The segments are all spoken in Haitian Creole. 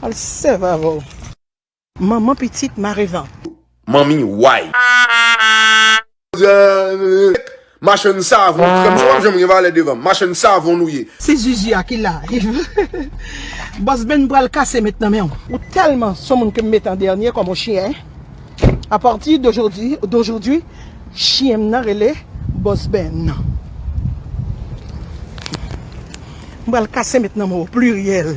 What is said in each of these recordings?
Al sèv avè w. Manman pitit mare van. Manmi way. Machann savon krèm sa pap janm gen valè devanm machann savon nou ye. Se zuzu a ki la yv. Boss Ben pral kase met nan menw. Ou telman son moun kem met an dènye kòm on chyen a partir d'aujourd'hui chyen m nan rele Boss Ben m pral kase met nan menw au pluriel.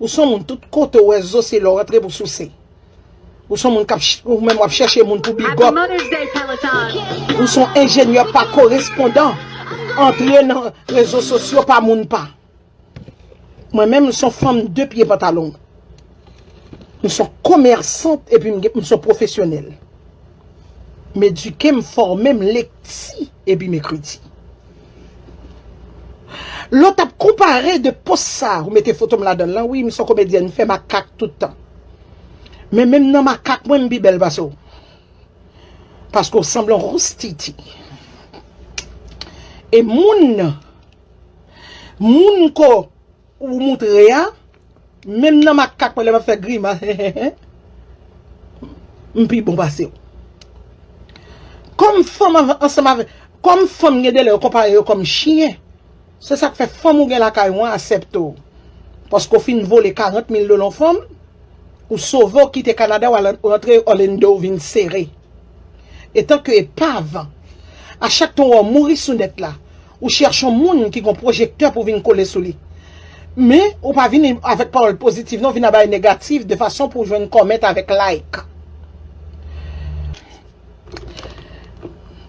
Ou son moun tout kote ou wè zo se la w antre pou souse. Ou son moun kap ou menm wap chèche moun pou bigòp. Ou son enjenyè pa korespondan antre nan rezo sosyo pa moun pa. Mwen menm m son fanm de pye pantalon. M son komèsant epi m son pwofesyonèl. M edike, m fòme, m lekti epi m ekriti. Lot ap konpare de post sa ou mete fotom ladanl lan wi m son komedyèn m fè makak tout tan men menm nan makak mwen m pi bèl pase w paske w sanble yon roustiti e moun moun ko Ou moutre a, menm nan makak mwen lè map fè grimas hehehe m pi bon pase w. Kòm fanm ansanm avèk, kòm fanm gen delè yo konpare yo kòm chyen, se sak fè fanm ou gen lakay ou an asèpte w. Paske w fin vole 40 mil dola yon fanm, ou sove w kite Kanada w al rantre Orlando w vin sere. Etanke epav, a chak tan w wè w mouri sou nèt la. Ou chèch on moun ki gon pwojektè pou vin kole sou li. Men, ou pa vini avèk pawòl pozitiv non, vin a bay negatif de fason pou w jwenn comment avèk like.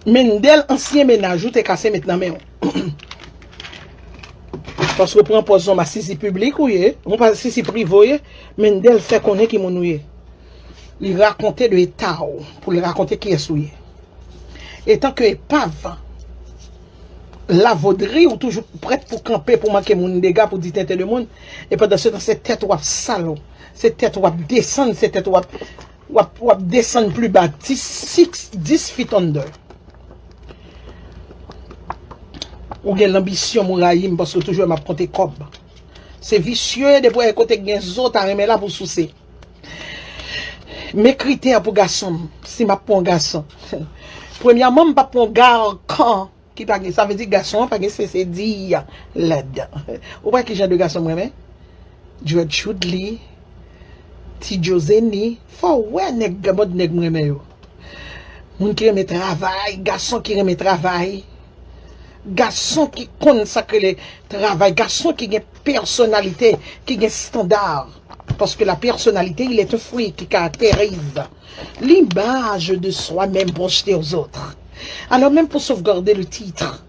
Mendel ansyen mennaj ou te kase met nan men w. Paske w pran pòz yon masisi piblik ou ye, yon masisi prive ou ye, Mendel fè konnen ki moun ou ye. Li rakonte de eta w pou li rakonte kiyès ou ye. Etan ke epav, lavodri ou toujou prèt pou kanpe pou manke moun dega pou di tenten de moun e pandan se tan se tèt ou ap sal ou, se tèt ou ap desann, se tèt ou ap w ap desann pli ba ti siks dis fit onnde. Ou gen lanbisyon mwen rayi m paske w toujou wè m ap konte kòb. Se visye depi w wè kote gen zo ta renmen la pou w souse. Men kritè pou gason, si map pran yon gason. Premyèman m pap pran yon garkan ki pa gen, sa vle di gason an pa gen sese di ladan. Ou wè ki jan de gason m renmen? Dread Choudly, Ti Djo Zeni, fò w wè nèg gen mòd nèg m renmen yo. Moun ki renmen travay, gason ki renmen travay, gason ki konn sa k rele travay, gason ki gen pèsonalite, ki gen standard. Paske la pèsonalite il est un fruit ki karakterize l'image de soi même projeté aux autres. Alors menm pou sauvegarder le titre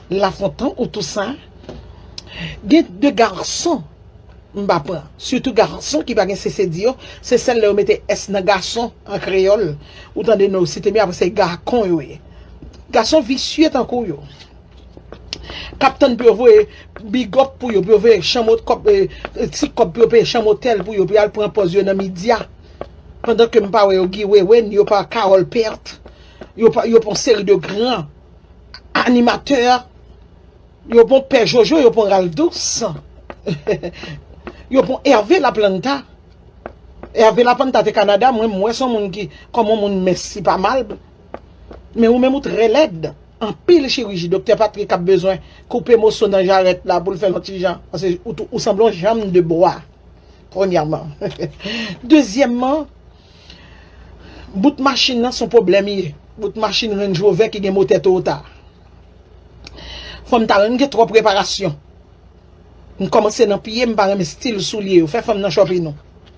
La Fontan ou Toussaint, gen de garson m pa pran, sitou garson ki pa gen sese di yo, se sèl lè yo mete s nan gason an kreyòl ou tande nou site men apre se gacon yo ye. Gason visye tankou yo. kap tann pou yo voye bigòp pou yo, pou yo voye ti kòb pou yo peye chanm otèl pou yo pou yal pran pòz yo nan midya pandan ke m pa wè yo Guy Wewe ni yo pa Carole Pert yo pa yo pa yon seri de gran animatè yo pa yon pè Jojo yo pa yon Ralph Douce yo pa yon Hervé Laplanta Hervé Laplanta te Canada mwen m wè son moun ki kòman moun mès li pa mal. Men ou menm ou trè lèd. Anpil chiriji Doktè Patrick ap bezwen koupe moso nan jarèt la pou l fè l yon ti jan. Paske ou sanble yon janm de bwa. Premyèman. Dezyèmman, bout machin nan son pwoblèm li ye. Bout machin Range Rover ki gen motè Toyota. Fanm ta renmn gen twòp reparasyon. M kòmanse nan pye m pa renmen stil soulye yo. Fè fanm nan chòpin nou.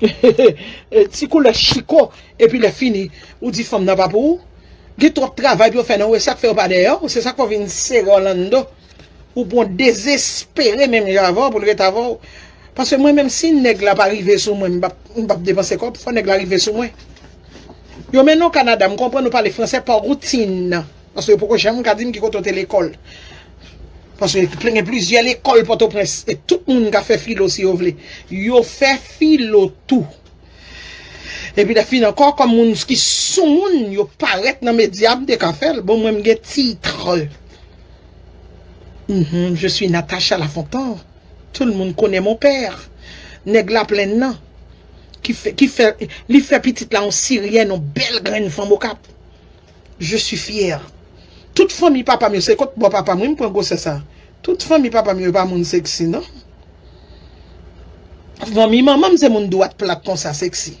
E ti koule chiko E pi le fini Ou di fanm nan pa pou ou Gen trop travay pou yo fè nan ou E sak fè yo pa deyè ou Se sak fè ou vin sere ou lan do Ou pon dezespere menm jan avè ou Pou l ret avè ou Pase mwen menm si nèg la pa rive sou mwen M pap depanse kob Fò nèg la rive sou mwen Yo mennen ou Canada M konprann ou pale fransè pa routine Paske yo poko janm ka dim ki kote w te lekòl. Paske gen plizyè lekòl Pòtoprens. E tout moun ka fè filo si yo vle. Yo fè filo tou. Epi lè fin ankò, kòm moun ki sou moun, yo parèt nan medya, m te ka fè l. Bon mwen m gen titre. Je suis Natacha Lafontant. Tout le monde connait mon père. Nèg Laplenn nan. Ki fè pitit la yon Siryen, yon bèl grenn fanm Okap. Je suis fière. Tout fanmi papam yo se kot bò papam wi m pran gwosè sa. Tout fanmi papam yo pa moun sexy non. Fanmi manmanm se moun dwat plat konsa sexy.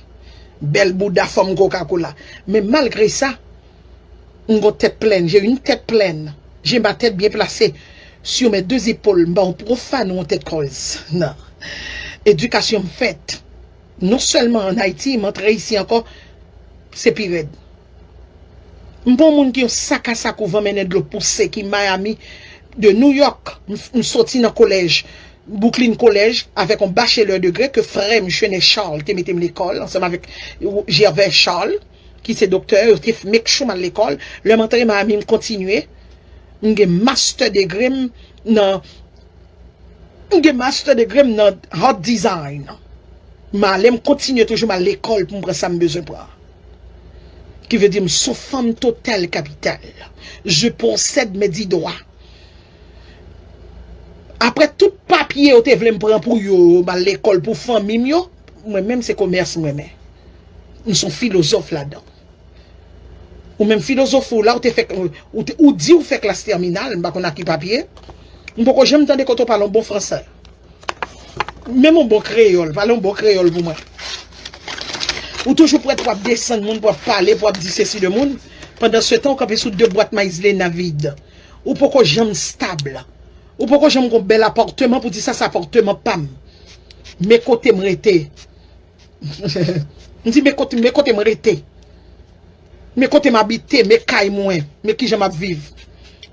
Bèl bouda fòm koka kola. Men malgre sa m gon tèt plèn, j'ai une tête pleine. J'ai ma tête bien placée sur mes deux épaules. M pa yon profane ou yon tèt kòz nan. Edikasyon m fèt. Non sèlman an Ayiti, m'en antre isi ankò, se pi rèd. M'pa yon moun ki yon sak a sak ou van mennen dlo pouse ki Miami, de New York, m'soti nan kolèj, Brooklyn College, avèk yon bachelè degre ke frè'm Chenet Charles te mete'm lekòl ansanm avèk Gervais Charles ki se doktè, yo te make sure m'al lekòl. Lè'm antre Miami m'kontinye, m'gen mastè degre'm nan. M gen master degré m nan Hot design. M ale m kontinye toujou m al lekòl pou m pran sa m bezwen pran. Ki vle di m s on fanm total kapital. Je possède mes dix doigts. Aprè tout papye yo te vle m pran pou yo, m al lekòl pou fanmi m yo, mwen menm se komès m renmen. M s on filozòf ladan. Ou menm filozofi w la ou te fè ou di ou fè klas tèminal m pa konn ak ki papye m poko janm tande kote w pale yon bon fransè menm yon bon kreyòl pale yon bon kreyòl pou mwen ou toujou prèt pou ap desann moun pou ap pale pou ap di sesi de moun pandan se tan ou kanpe sou de bwat mayizlena vid ou poko janm stab ou poko janm gon bèl apòteman pou di sa se apòteman pa m men kote m rete. M di men kote men kote m rete. Men kote m abite, men kay mwen, men kijan m ap viv.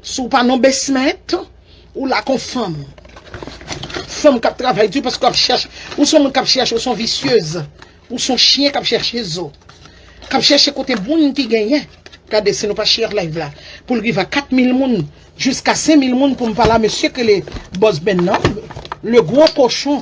Si w pa nan yon basement, ou la kon fanm. Fanm k ap travay di paske w ap chèche, ou son moun k ap chèche, ou son visyeuz. Ou son chyen k ap chèche zo. K ap chèche kote moun ki genyen. Gade si nou pa share live la pou l rive a 4000 moun jiska 5000 moun pou m pale a mesye ki rele Boss Ben nan, le gros cochon.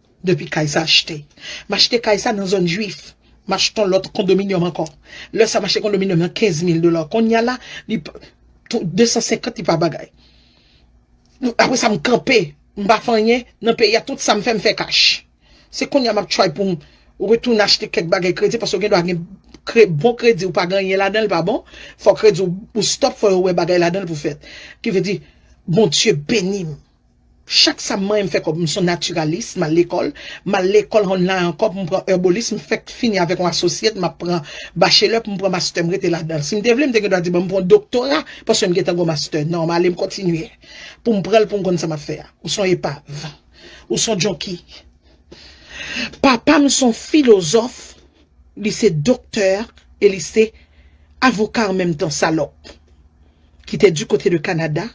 Depi kay sa achte. M achte kay sa nan zòn jwif. M achte yon lòt kondominyòm ankò. Lè sa m achte kondominyòm nan 15 mil dola. Kounye a la, li pa, 250 li pa bagay. Apre sa m kanpe, m pa fè anyen nan peyi a. Tout sa m fè, m fè kach. Se kounye a m ap try pou m retounen achte kèk bagay kredi paske ou gen dwa gen bon kredi ou pa gen anyen ladan l pa bon. Fò kredi ou stop, fò yo wè bagay ladan l pou fèt. Ki vle di, Bondye beni m. Chak sa m manyen m fè kòb, m son natiralis, m al lekòl, m al lekòl an la ankò pou m pran èbolis, m fèk fini avèk yon asosyèt, m ap pran bachelè pou m pran mastè m rete ladan. Si m te vle m te gen dwa di ban m pran yon doktora paske m gentan gon mastè. Non, m ale m kontinye pou m pran l pou m konn sa m ap fè a. Ou son epav. Ou son jonki. Papa m son filozòf, li se doktè e li se avoka an menm tan, salòp ki te di kote de Kanada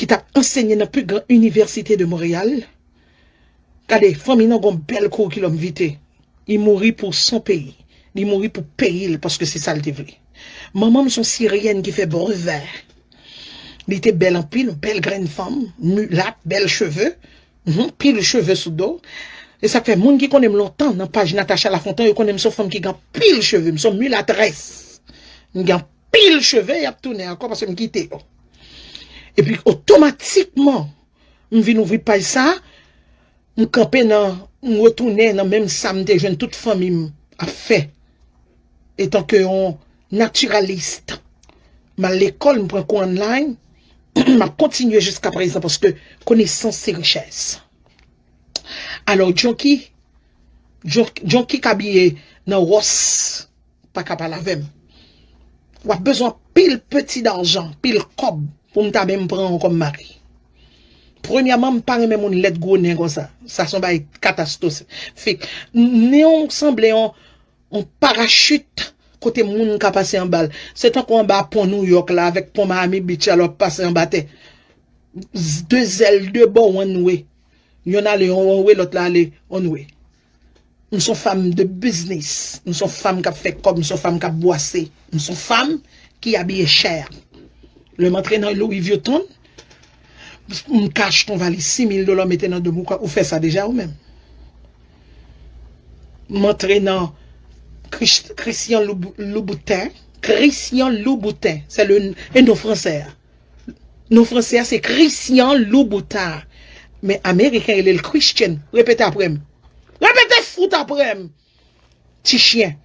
ki tap ansenye nan pi gran inivèsite de Monreyal. Gade, fanmi nan gon bèl kourikilòm vite. Li mouri pou son peyi. Li mouri pou peyi l paske se sa l te vle. Manman m son siryèn ki fè brevè. Li te bèl anpil, yon bèl grenn fanm, milat, bèl cheve, anpil cheve sou do. Se sa k fè, moun ki konnen m lontan nan paj Natacha Lafontan, yo konnen m son fanm ki gen anpil cheve. M son milatrès. M gen pil cheve yap tounen ankò paske m kite yo. Epi otomatikman m vin ouvri paj sa, m kanpe nan m retounen nan menm sa m te jwenn tout fanmi m ap fè. Etan ke yon naturalist m al lekòl m pran kou online m ap kontinye jiska prezan paske konesans se richès. Alò Junkie Junkie k abiye nan Ross. pa ka pale avèm. Wap bezwen anpil peti darjan, anpil kòb pou m ta menm pran ou kòm mari. Premyèman m pa renmen moun lèd gwo nen konsa. Sa son bagay katastos fik. Nen w sanble yon parachit kote moun ka pase anba l. Se tankou anba pon Nouyòk la avèk pon Miami Beach la lè wap pase anba tè. De zèl de bò one way. Yon ale yon way lòt la ale one way. M son fanm de biznis, m son fanm kap fè kòb, m son fanm kap bwase, m son fanm ki abiye chè. Lè m antre nan Louis Vuitton, m ka achte yon valiz 6000 dola mete nan do m. Ou fè sa deja ou menm? M antre nan Christian Louboutin, Christian Louboutin, se le, e non fransè a. Non franse a se Christian Louboutin. Men ameriken rele l Christian. Repete apre m. Repete fout apre m. Ti chyen.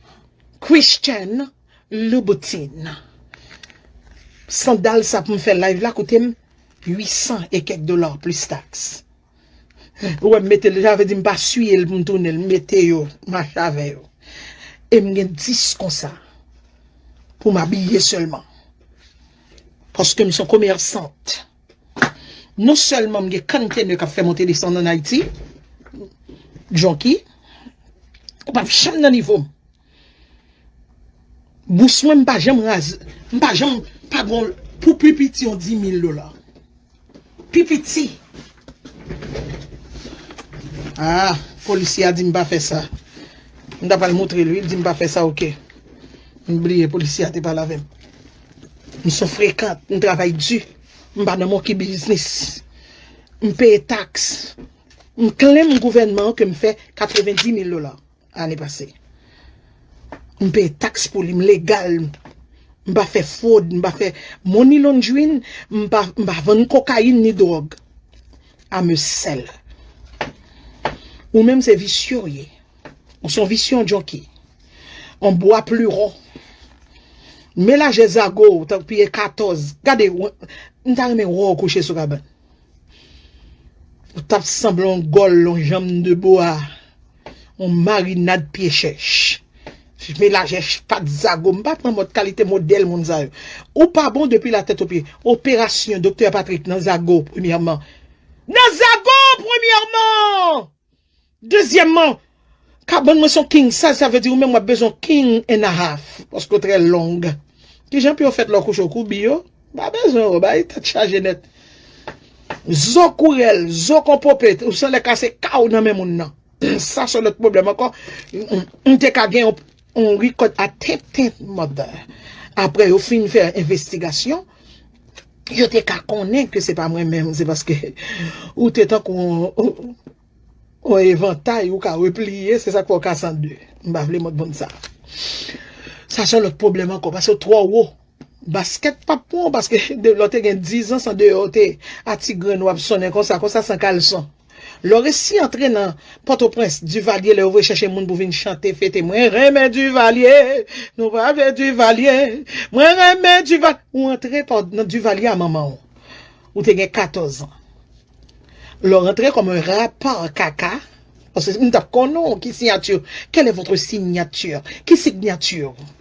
Christian Louboutin. Sandal sa pou m fè live la koute m 800 e kèk dola plis taks. Ou wè m mete l, sa vle di m pa siye l pou m tounen l, m mete yo, m mache avè yo. E m gen 10 konsa pou m abiye sèlman. Paske m se yon komèsant. Non sèlman m gen kantene k ap fè monte desann ann Ayiti, Jonki, ou pap janm nan nivo m. Bous mwen m pa janm raz, m pa janm pa gon pou pi piti yon 10000 dola. Pi piti. Aa, polisye a di m pa fè sa. M ta pral moutre l wi, l di m pa fè sa ok. M bliye polisye a te pale avè m. M son frekant, m travay di. M pa nan monki biznis. M peye taks. M klem gouvènman an ke m fè 90000 dola. Ane pase. M peye tax pou li, m legal. M pa fè fraud, m pa fè money laundering, m pa vann kokayin ni drog. I'm a seller. Ou menm se visye w ye. Ou son visye yon junkie. Yon bwa pluron. Melaje zago w tank piye 14. Gade, m ta renmen wè w kouche sou kabann. Ou tap sanble yon gòl, yon janm de bo a, yon marinad pye chèch. Ch melaje ch pat zago, m pa pran mòd kalite modèl moun sa yo. Ou pa bon depi la tèt o pye. Operasyon doktè Patrick nan zago premyèman. Nan zago premyèman! Dezyèmman, kabann mwen se yon king size, sa vle di ou menm w ap bezwen yon king and a half, paske w trè long. Kijan pou yo fèt lè w kouche w koubi yo? Ou pa bezwen yo, bay tèt chaje nèt. Zo kou rèl, zo kon pope, ou san lè kase kaw nan men moun nan. Sa se yon lòt pwoblèm ankò. M te ka gen yon. On record a tenten mother. Aprè yo fin fè envestigasyon, yo te ka konnen ke se pa mwen menm, se paske ou te tankou on evantay ou ka repliye, se sak fè ou ka san de. M pa vle motbon sa. Sa son lòt pwoblèm ankò, paske ou twò wo. Basket pap pran w paske lè w te gen 10 ans andeyò w te a ti grenn w ap sonnen konsa konsa san kalson. Lè w resi antre nan pòtoprens Duvalier lè yo voye chèche moun pou vin chante fete mwen renmen Duvalier nou pa vle Duvalier mwen renmen Duval ou antre nan Duvalier a manman w ou te gen 14 ans lè w rantre kòm un rappeur kaka paske m tap konnen w ki signature quelle est votre signature ki signature ou.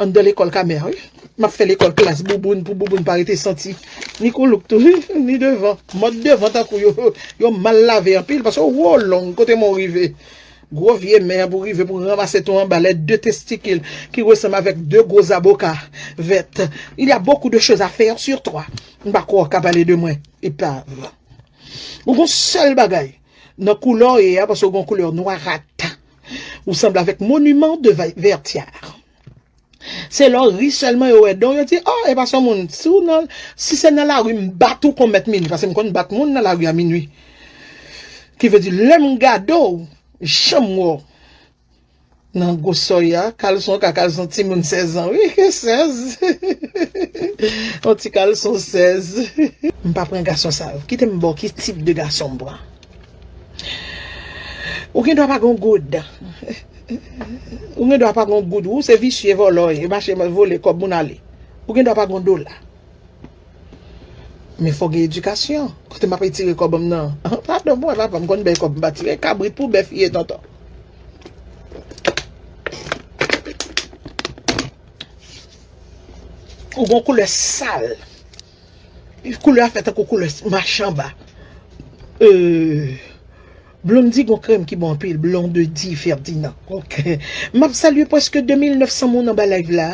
Anndan lekòl Kamer wi. M ap fè lekòl klas bouboun pou bouboun pa rete santi. Ni koulouk tou wi, ni devan. Mòd devan tankou yo, yo mal lave anpil paske yo wo long kote men w rive. Gwo vye men an pou rive pou ranmase tou anba lè de testikil ki resanm avèk de gwo zaboka vèt. Il y a beaucoup de choses à faire sur toi. M pa kwè w ka pale de mwen, epav. Ou gen yon sèl bagay nan koulè w ye a paske w gen yon koulè nwarat. Ou sanble avèk monument de vertière. Se lè w ri sèlman yo wè dan w yo di, oh e pa son moun. Si se nan lari m bat ou kon mèt minui, pase m konn bat moun nan lari a minui. Ki vle di lè m gade w, jan m wè w nan gwo sòy a, kalson ka kalson timoun 16 ans wi, 16. Yon ti kalson 16. M pa pran gason sa yo. Kite m ba w ki tip de gason m pran. Ou gen dwa pa gon goud. Ou gen dwa pa gon goud. Ou se visye vòlò. E mache vole kòb moun ale. Ou gen dwa pa gon dola. Men fò gen edikasyon. Kote m ap etire kòb m nan. Padon pou mwen papa m konn bèy kòb m pa tire. Kabrit pou bèf ye tonton. Ou gon koulè sal. Koulè a fè tankou koulè machamba. Blondie gon krèm ki bon anpil Blondedy Ferdinand Map salye preske 2900 moun anba live la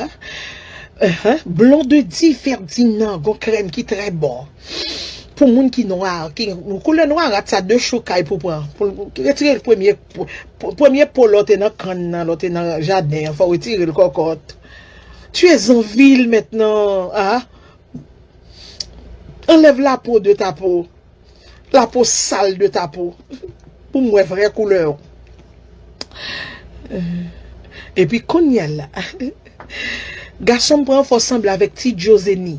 Blondedy Ferdinand gon krèm ki trè bon Pou moun ki nwa Koulè nwarat sa 2 chou kay pou pran Retire premye Premye po lò te nan kann nan lò te nan jaden an fò retire l kòkòt Tu es en ville maintenant ahh Anlève la peau de ta peau. La peau sale de ta peau. Pou m wè vrè koulè w. Epi kounya la. Gason m pran fò sanble avèk ti djo zeni.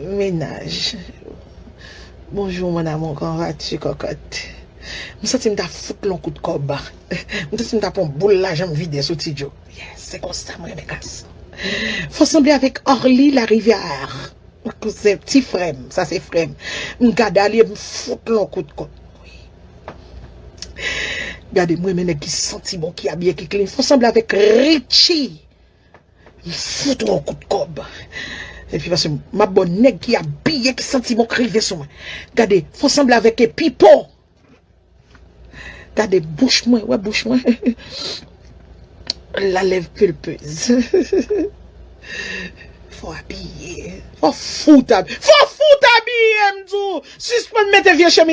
Mennaj. Bonjour mon amour comment vas tu cocotte. M santi m ta fout l on kout kòb. M santi m ta pran on boul lajan m vide sou ti djo. Yes se konsa m renmen gason. Fò sanble avèk Arly la rivière kouzen ti frèm sa se frèm m gad Arly epm fout l on kout kont wi gade m renmen nèg ki santi bon ki abiye ki klin fò sanble avèk Richie m fout ou on kout kòb epi paske map bo nèg ki abiye ki santi bon k rive sou mwen gade fò sanble avèk e Pipo Gade bouch mwen, wè bouch mwen. La lèv pulpez. Fò abiye. Fò fout abiye. Fò fout abiye m di w. Sispann mete vye chemiz.